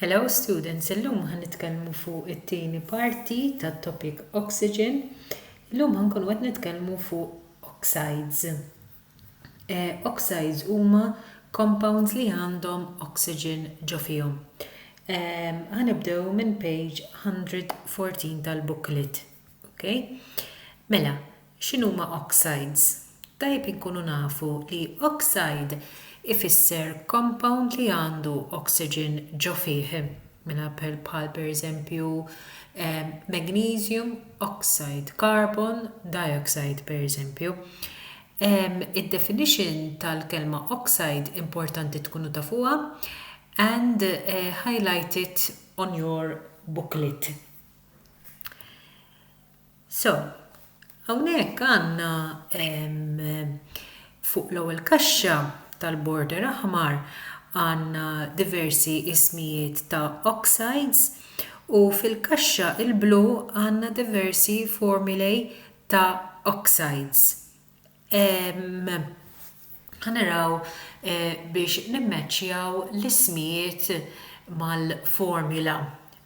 Hello students, illum ħan nitkellmu fuq it-tieni parti tat-topic oxygen. Illum ħankunu qed nitkellmu fuq oxides. Eh, oxides huma compounds li għandhom oxygen ġo fihom. Ħanibdew minn page 114 tal-booklet. Okay? Mela, X'inhuma oxides? Tajjeb li nkunu nafu li oxide ifisser compound li għandu oxygen ġo fih, minħabl bħal pereżempju magnesium oxide, carbon dioxide pereżempju. Id-definition tal-kelma oxide importanti tkunu tafuha and highlight it on your booklet. So, hawnhekk għandna fuq l-ewwel kaxxa tal-border aħmar għandna diversi ismijiet ta' oxides u fil-kaxxa l-blu għandna diversi formulae ta' oxides. Ħa naraw biex nimmaċċjaw l-ismijiet mal-formula.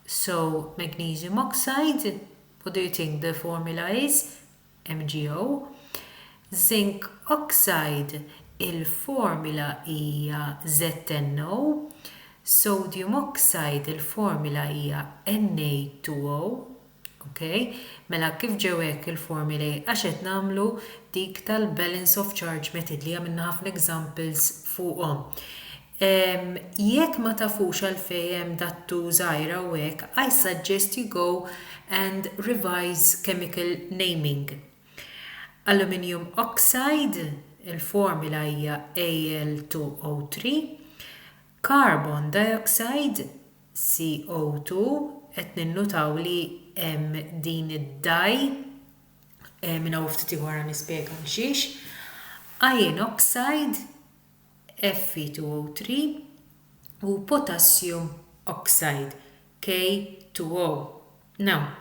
So, magnesium oxide, what do you think the formula is? MgO. Zinc oxide, il-formula hija ZnO. Sodium oxide, il-formula hija Na2O. Ok, mela kif ġew hekk il-formulae għax qed nagħmlu dik tal-balance of charge method li għamilna ħafna examples fuqhom. Um, jekk ma tafux għalfej hemm dattu żgħira u hekk, I suggest you go and revise chemical naming. Aluminium oxide, il-formula hija Al2O3, Carbon dioxide, CO2, qed ninnutaw li hemm din id-dye, minn hawn u ftit ieħor ħa nispjega għal xiex, iron oxide, Fe2O3, u potassium oxide, K2O. Now,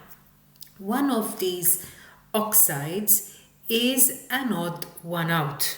one of these oxides is an odd one out.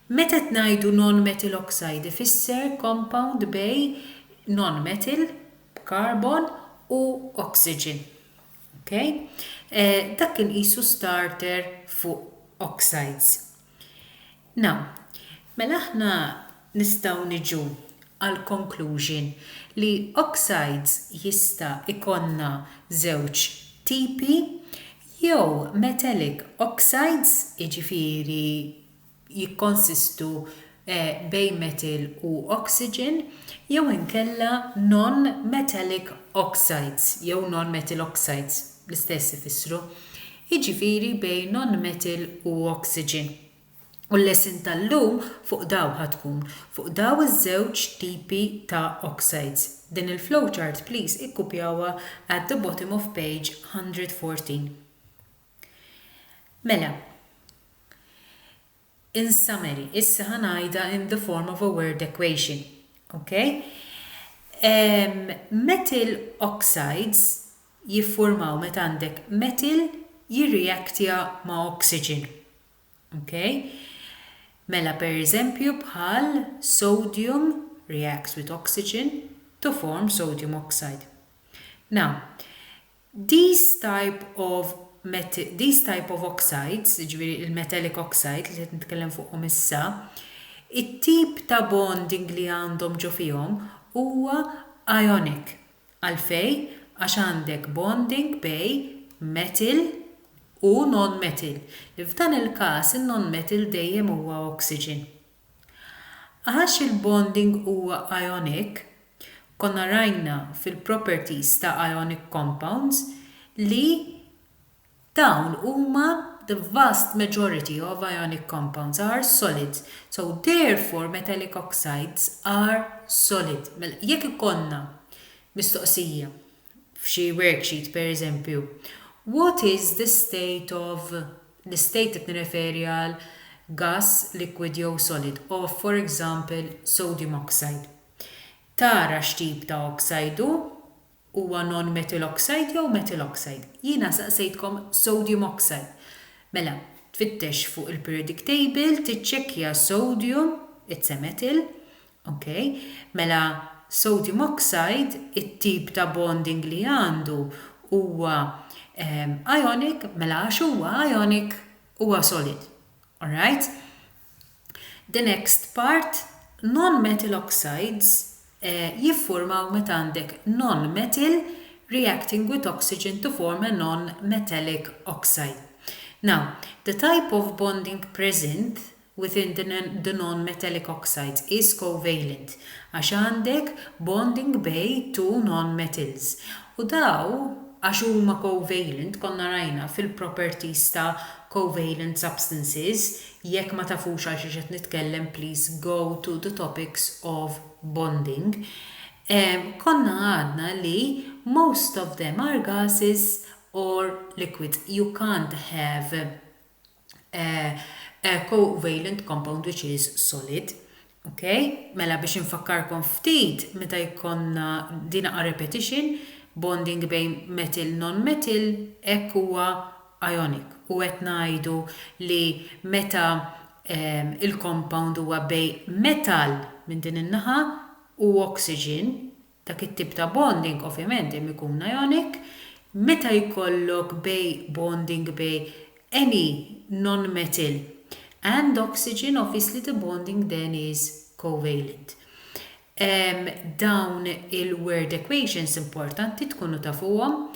Meta qed ngħidu non-metal oxide ifisser compound bej non-metal, b'carbon, u oxygen. Ok? Dak kien qisu starter fuq oxides. Now, mela aħna nistgħu niġu għall-conclusion li oxides jista' jkollna żewġ tipi, jew metallic oxides, jiġifieri jikkonsistu bejn metil u oxygen, jew inkella non-metallic oxides jew non-metal oxides, l-istess ifissru, jiġifieri bejn non-metal u oxygen. U l-lesson tal-lum fuq dawn ħa tkun, fuq dawn iż-żewġ tipi ta' oxides. Din il-flowchart please ikkupjawha at the bottom of page 114. Mela, in summary, issa ħa ngħidha in the form of a word equation, ok? Metal oxides jiffurmaw meta għandek metal jirreactja ma' oxygen, ok? Mela pereżempju bħal sodium reacts with oxygen to form sodium oxide. Now, These type of These type of oxides, jiġifieri il-metallic oxide li qed nitkellem fuqhom issa, it-tip ta' bonding li għandhom ġo fihom huwa ionic. Għalfejn? Għax għandek bonding bej metal u non-metal, li f'dan il-każ in-non-metal dejjem huwa oxygen. Għax il-bonding huwa ionic, konna rajna fil-properties ta' ionic compounds li dawn huma, the vast majority of ionic compounds are solids, so therefore metallic oxides are solid. Mela jekk ikollna mistoqsija f'xi worksheet pereżempju, what is the state of, l-istate qed nirreferi għal gass, liquid jew solid, of for example sodium oxide. Tara x'tip ta' oxide hu, huwa non-metal oxide jew metal oxide. Jiena saqsejtkom sodium oxide. Mela, tfittex fuq il-periodic table, tiċċekkja sodium, it's a metal, Ok, mela sodium oxide it-tip ta' bonding li għandu huwa ionic mela għax huwa ionic huwa solid. Alright? The next part non-metal oxides jiffurmaw meta għandek non-metal reacting with oxygen to form a non-metallic oxide. Now, the type of bonding present within the non-metallic oxides is covalent għax għandek bonding bej two non-metals u daw għax huma covalent konna rajna fil-properties ta' covalent substances jekk ma tafux għal xiex qed nitkellem please go to the topics of bonding konna għadna li most of them are gases or liquids you can't have covalent compound which is solid. Ok, mela biex infakkarkom ftit meta jkollna din a repetition bonding bejn metil non metil hekk huwa ionic u qed ngħidu li meta um, il-compound huwa bej metal minn din in-naħa u oxygen Dak it-tip ta' bonding ovvjament hemm ikun ionic. Meta jkollok bej bonding bej any nonmetal and oxygen obviously the bonding then is covalent. Dawn il-word equations importanti tkunu tafuhom.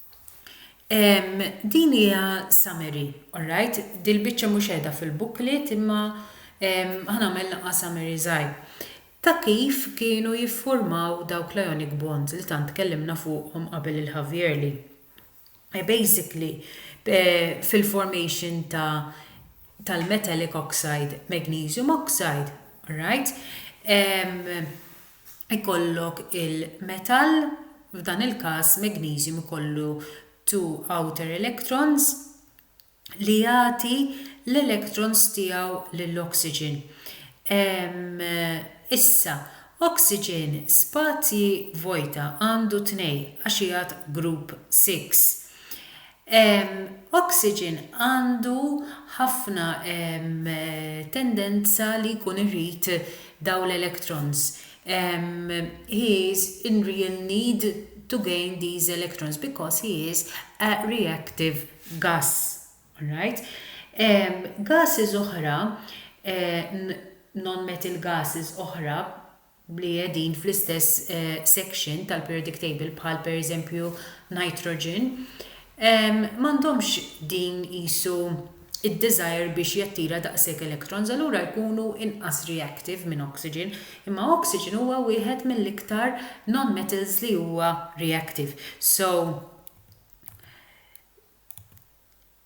Ehm, din hija summary, alright? Dil-biċċa mhux qiegħda fil-booklet imma ehm, ħanagħmel naqqa' summary żgħir ta' kif kienu jiffurmaw dawk l-ionic bonds li tant tkellimna fuqhom qabel il-Javierli. Eh, basically, eh, fil-formation ta' tal-metallic oxide, magnesium oxide, alright? Ehm, ikollok il-metall, f'dan il-każ magneżjum ikollu two outer electrons, li jagħti l-electrons tiegħu lill-oxygen. Issa, oxygen spazji vojta għandu tnej għax qiegħed group six. Oxygen għandu ħafna tendenza li jkun irid dawn l-electrons. He is in real need to gain these electrons because he is a reactive gas. Alright? Gases oħra, non-metal gases oħra, li qegħdin fl-istess section tal-periodic table bħal pereżempju nitrogen, m'għandhomx din qisu d-desire biex jattira daqshekk electrons, allura jkunu inqas reactive minn oxygen, imma oxygen huwa wieħed mill-iktar nonmetals li huwa reactive. So,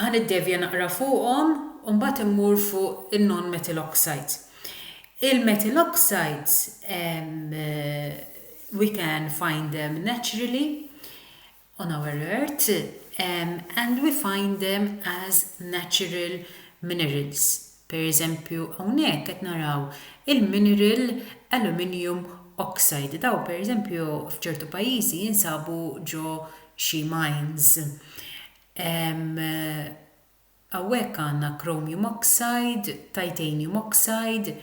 Ħa niddevja naqra fuqhom u mbagħad immur fuq in-non-methyl oxides. Il-methyl oxides we can find them naturally on our earth and we find them as natural minerals. Per eżempju hawnhekk qed naraw il-mineral aluminium oxide. Dawn per eżempju f'ċertu pajjiżi jinsabu ġo xi mines. Hawnhekk għandna chromium oxide, titanium oxide.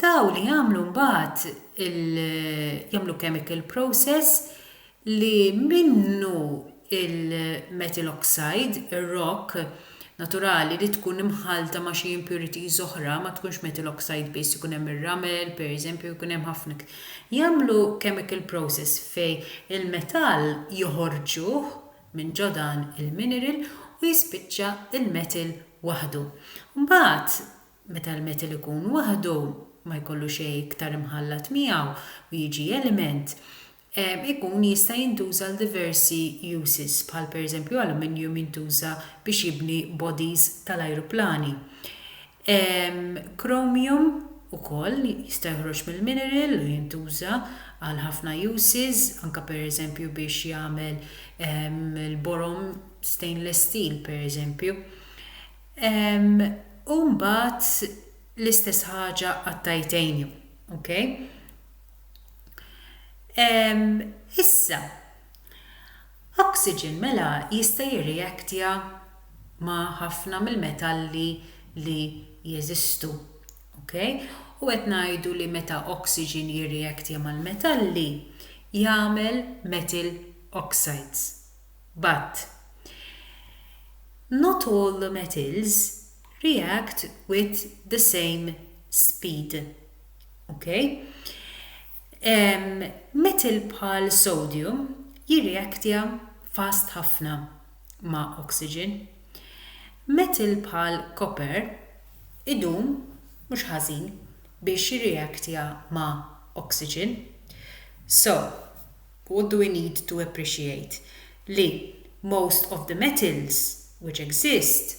Dawn li jagħmlu mbagħad jagħmlu chemical process li minnu il-metal oxide, ir-rock, naturali li tkun imħallta ma' xi impurities oħra, ma tkunx metal oxide biss, ikun hemm ir-ramel, pereżempju, ikun hemm ħafna iktar. Jagħmlu chemical process fejn il-metall joħorġuh minn ġo dan il-mineral u jispiċċa l-metal waħdu. Mbagħad meta l-metal ikun waħdu, ma jkollu xejn iktar imħallat miegħu u jiġi element, ikun jista' jintuża għal diversi uses, bħal pereżempju aluminium jintuża biex jibni bodies tal-ajruplani. Chromium ukoll jista' joħroġ mill-mineral u jintuża għal ħafna uses, anke pereżempju biex jagħmel il-borom stainless steel pereżempju. U mbagħad l-istess ħaġa għat-titanium, ok? Issa, oxygen mela jista' jirreaktja ma' ħafna mill-metalli li jeżistu. Ok? U qed ngħidu li meta oxygen jirreaktja mal-metalli jagħmel metal oxides. But, not all the metals react with the same speed. Ok? Metal bħal sodium jirreaktja fast ħafna ma' oxygen. Metal bħal copper idum mhux ħażin biex jirreaktja ma' oxygen. So, what do we need to appreciate? Li most of the metals which exist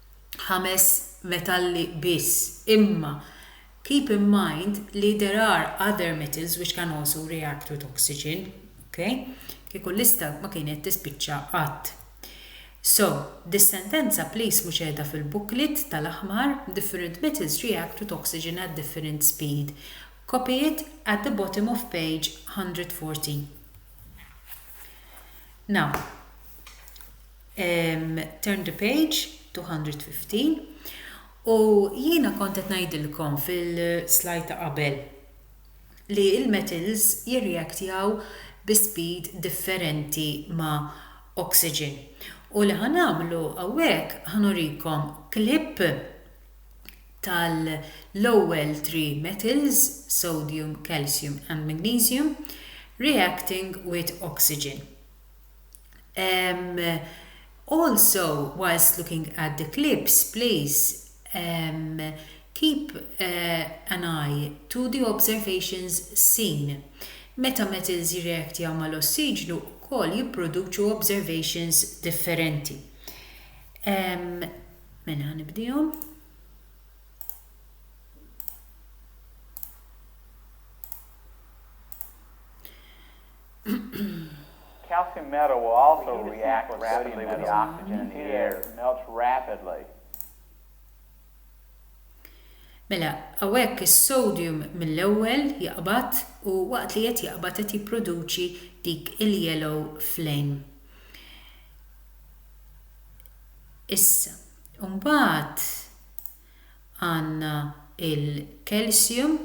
ħames metalli biss, imma keep in mind li there are other metals which can also react with oxygen, ok? Kieku l-lista ma kienet tispiċċa qatt. So, dis-sentenza please mhux qiegħda fil-booklet tal-aħmar Different metals react with oxygen at different speed. Copy it at the bottom of page 114. Now, Turn the page, 215. U jiena kont qed ngħidilkom fil-slide ta' qabel li l-metals jirreaktjaw bi speed differenti ma' oxygen. U li ħa nagħmlu hawnhekk ħa nurikom clip tal-ewwel three metals, sodium, calcium and magnesium, reacting with oxygen. Also, whilst looking at the clips, please keep an eye to the observations seen. Meta metals jirreaktjaw mal-ossiġnu wkoll jipproduċu observations differenti. Calcium metal will also react rapidly with the oxygen in the air. It melts rapidly. Mela, hawnhekk is-sodium mill-ewwel jaqbad u waqt li qed jaqbad qed jipproduċi dik il-yellow flame. Issa, imbagħad għandna l-calcium,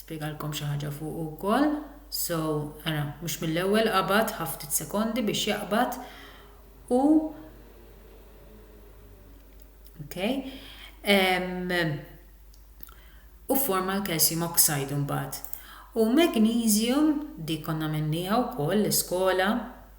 spjegalkom xi ħaġa fuq ukoll, so ara mhux mill-ewwel qabad ħa ftit sekondi biex jaqbad u okay, um, u forma l-calcium oxide imbagħad. U magnesium dik konna minniha wkoll l-iskola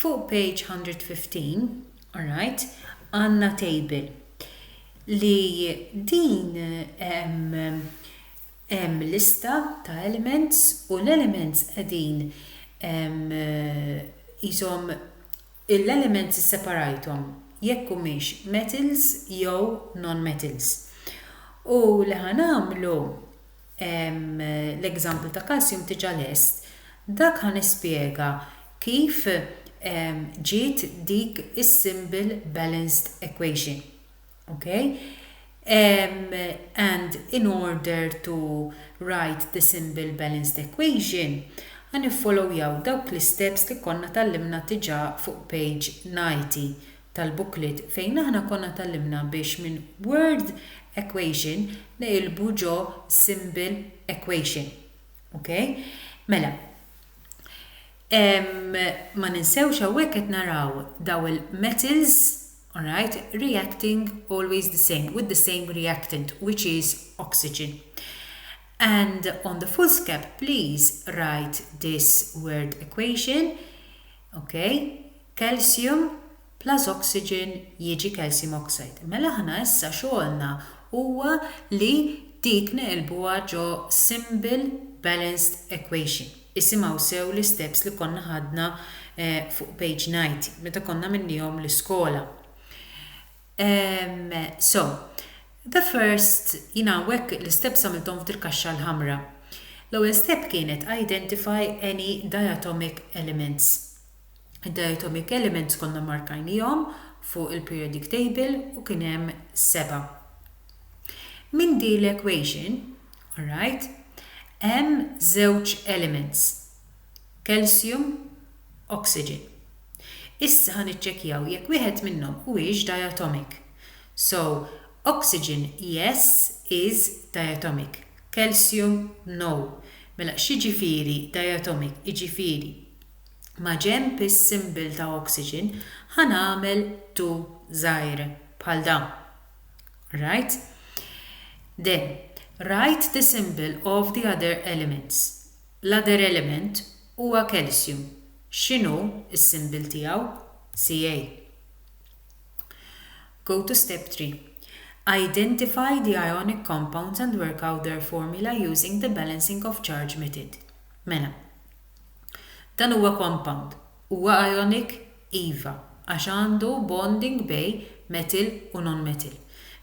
Fuq page 115, alright, għandna table li din hemm lista ta' elements u l-elements qegħdin qishom l-elements isseparajthom jekk humiex metals jew non-metals. U li ħa nagħmlu, Hemm l-example ta' calcium diġa lest. Dak ħa nispjega kif ġiet dik is-simbil balanced equation. Ok? And in order to write the simbil balanced equation ħa niffolowjaw dawk l-isteps li konna tgħallimna diġa fuq page 90 tal-booklet fejn aħna konna tgħallimna biex minn word equation neqilbu ġo symbol equation. Ok? Mela, ehm, ma ninsewx hawnhekk qed naraw daw il-metals, alright, reacting always the same with the same reactant which is oxygen. And on the foolscap, please write this word equation. Okay? calcium plus oxygen jiġi calcium oxide. Mela aħna issa xogħolna huwa li dik neqilbuha ġo simple balanced equation. Isimgħu sew l-isteps li konna ħadna fuq page 90 meta konna minnihom l-iskola. So, the first, jien hawnhekk l-isteps għamilthom f'dil-kaxxa l-ħamra. L-ewwel step kienet identify any diatomic elements. Id-diet omik elements konna mmarkajniehom fuq il-periodic table u kien hemm seba'. Minn din l-equation, alright, hemm żewġ elements, calcium, oxygen. Issa ħa niċċekkjaw jekk wieħed minnhom huwiex diatomic. So, oxygen yes is diatomic, calcium no. Mela x'jiġifieri diatomic jiġifieri? Maġenb is-symbol ta' oxygen ħa nagħmel tu żgħir bħal dan. Right? Then, write the symbol of the other elements. L-other element huwa calcium. X'inhu s-symbol tiegħu? Ca. Go to step 3. Identify the ionic compounds and work out their formula using the balancing of charge method. Mela, Dan huwa compound. Huwa ionic? Iva, għax għandu bonding bej metal u non-metal.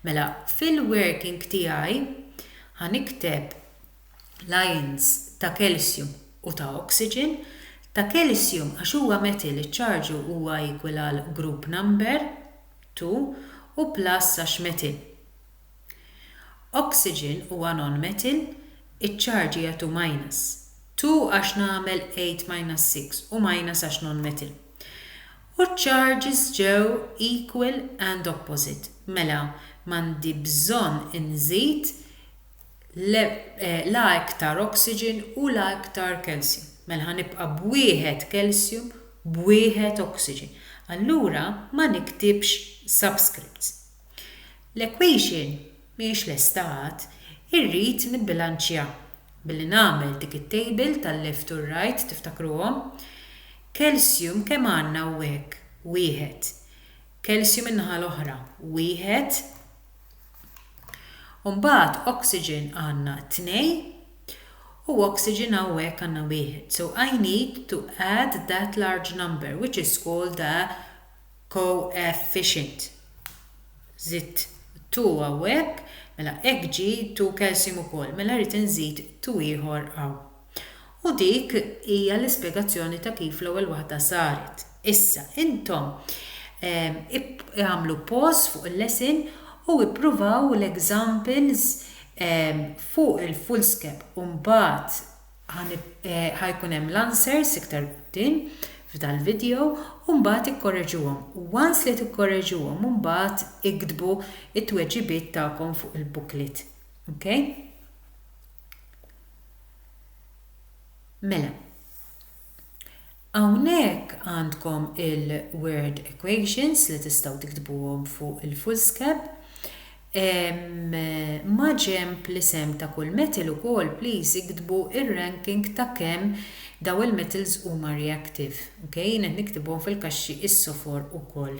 Mela, fil-working tiegħi ħa nikteb l-ions ta' calcium u ta' oxygen. Ta' calcium għax huwa metal iċ-ċarġu huwa equal għal group number, 2, u plus għax metal. Oxygen huwa nonmetal, iċ-ċarġi jagħtu minus. Two għax nagħmel eight minus six u minus għax nonmetal. U ċ-ċarġis ġew equal and opposite. Mela, m'għandi bżonn inżid la iktar oxygen u la iktar calcium. Mela ħa nibqa' b'wieħed calcium, b'wieħed oxygen. Allura ma niktibx subscripts. L-equation mhijiex lesta għad, irrid nibbilanċja billi nagħmel dik it-table tal-left u r-right tiftakruhom? Calcium kemm għandna hawnhekk? Wieħed. Calcium in-naħa l-oħra? Wieħed. U mbagħad oxygen għandna tnej u oxygen hawnhekk għandna wieħed. So I need to add that large number which is called a koefficient. Żidt 2 hawnhekk, mela hekk ġie 2 calcium ukoll, mela rrid inżid 2 ieħor hawn. U dik hija l-ispjegazzjoni ta' kif l-ewwel waħda saret. Issa, intom agħmlu pause fuq il-lesson u ippruvaw l-examples fuq il-foolscap u mbagħad Ħa jkun hemm l-answers iktar quddiem f'dal-video u mbagħad ikkorreġuhom. Once li tikkorreġuhom imbagħad iktbu t-tweġibiet tagħkom fuq il-booklet. Ok? Mela. Hawnhekk għandkom il-word equations li tistgħu tiktbuhom fuq il-foolscap. Maġenb l-isem ta' kull metal ukoll please iktbu r-ranking ta' kemm dawn il-metals huma reactive. Ok, jien qed niktibhom fil-kaxxi issofor ukoll.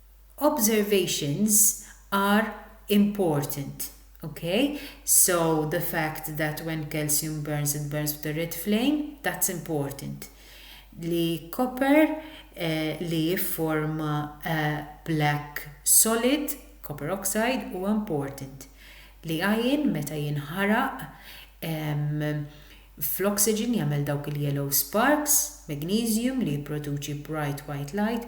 observations are important ok so the fact that when calcium burns it burns with a red flame that's important li copper li jifforma a black solid copper oxide huwa important li iron meta jinħaraq fl-oxygen jagħmel dawk il-yellow sparks magnesium li jipproduċi bright white light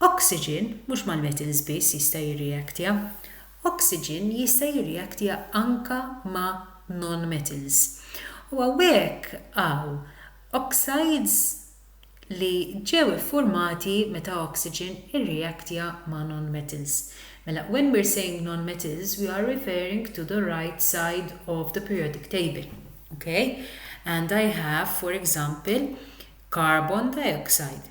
Oxygen mhux mal-metals biss jista' jirreaktja, oxygen jista' jirreaktja anka ma' non-metals. U hawnhekk hawn oxides li ġew iffurmati meta oxygen irreaktja ma' non-metals. Mela when we're saying non-metals we are referring to the right side of the periodic table. Okay? And I have for example carbon dioxide.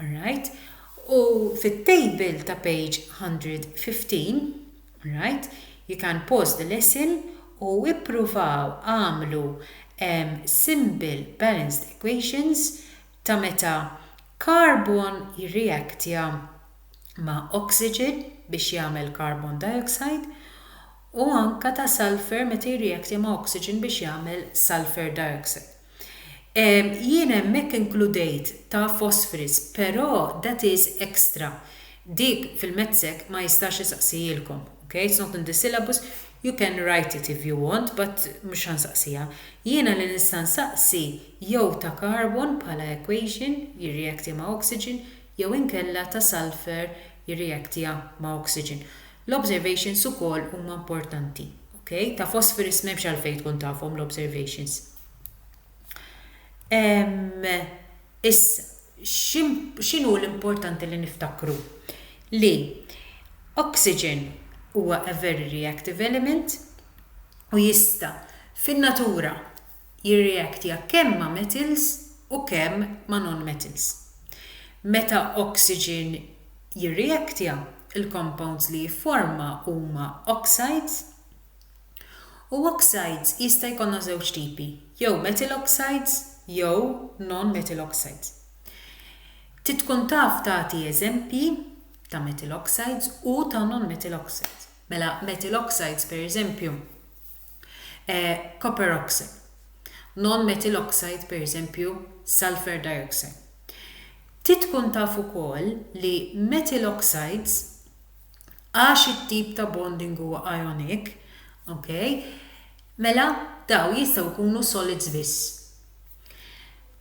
alright, u fit-table ta' page 115, alright, you can pause the lesson u ippruvaw agħmlu simple balanced equations ta' meta carbon jirreactja ma' oxygen biex jagħmel carbon dioxide u anke ta' sulphur meta jirreactja ma' oxygen biex jagħmel sulphur dioxide. Ehm, jien hemmhekk inkludejt ta' Phosphorus, però that is extra. Dik fil-MedSec ma jistax isaqsihilkom, ok, it's not in the syllabus, you can write it if you want but mhux ħa nsaqsiha. Jiena li nista' nsaqsi jew ta' carbon bħala equation jirreacti ma' oxygen jew inkella ta' sulphur jirreactia ma' oxygen. L-observations ukoll huma importanti, ok ta' phosphorus m'hemmx għalfejn tkun tafhom l-observations ehm issa x'inhu l-importanti li niftakru li oxygen huwa a very reactive element u jista' fin-natura jirreactja kemm ma' metals u kemm ma' non-metals meta oxygen jirrijektja, il-compounds li jifforma huma oxides u oxides jista' jkollna żewġ tipi, jew methyl oxides jew non-methyl oxides. Trid tkun taf tagħti eżempji ta' methyl oxides u ta' non-methyl oxides. Mela methyl oxides pereżempju eh, copper oxide. Non-methyl oxide pereżempju sulfur dioxide. Trid tkun taf ukoll li methyl oxides, għax it-tip ta' bonding huwa ionic, ok, mela dawn jistgħu jkunu solids biss.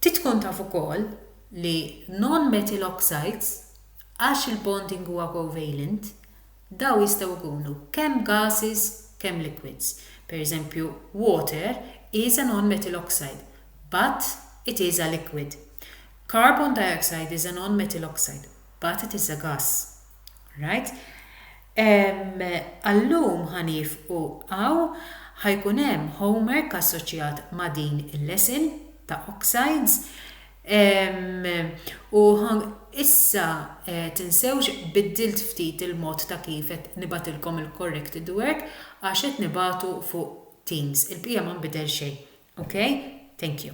Trid tkun taf ukoll li non-methyl oxides, għax il-bonding huwa covalent, Dawn jistgħu jkunu kemm gases kemm liquids. Per eżempju, water is a non-metal oxide, but it is a liquid. Carbon dioxide is a non-metal oxide, but it is a gas. Right? Ehm, għal-lum ħa nieqfu hawn, ħa jkun hemm homework assoċjat ma' din il-lesson ta' oxides. U issa tinsewx biddilt ftit il-mod ta' kif qed nibgħatilkom il-corrected work għax qed nibgħatu fuq Teams. Il-bqija ma nbidel xejn. Ok? Thank you.